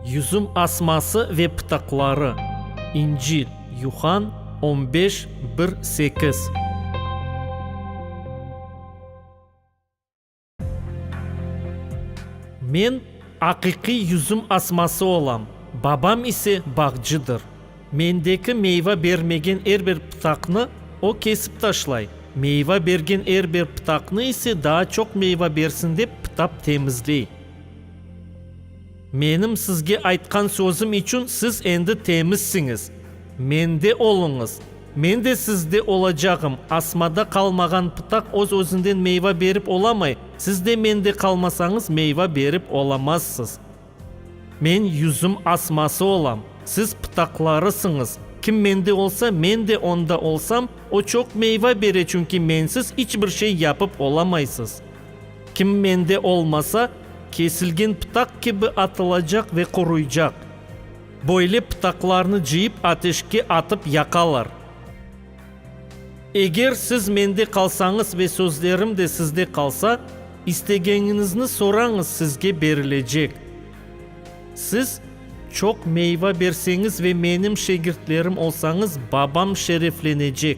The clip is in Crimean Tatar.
Yüzüm asması ve pıtaqları, İnci, Yuhan, on beş, bir, sekiz. Men aqiqiy yüzüm asması olam, babam ise bağcıdır. Mendeki meyva bermegen er bir pıtaqnı O kesip taşlay, meyva bergen er bir pıtaqnı ise daa çoq meyva bersin dep pıtap temizley. Menim sizge aytqan sözüm içün siz endi temizsiñiz. Mende oluñız, Men de sizde olacağım. Asmada qalmağan pıtaq öz-özünden meyva berip olamay, siz de Mende qalmasañız meyva berip olamazsız. Men yüzüm asması olam, siz pıtaqlarısıñız. Kim mende olsa, men de onda olsam, o çoq meyva bere, çünki mensiz iç bir şey yapıp olamaysız. Kim mende olmasa, kesilgen pıtaq kibi atılacaq ve quruycaq. Böyle pıtaqlarnı cıyıp ateşke atıp yaqalar. Eger siz mende qalsañız ve sözlerim de sizde qalsa, istegeñiñizni sorañız, sizge berilecek. Siz çoq meyva berseñiz ve menim şegirtlerim olsañız, Babam şereflenecek.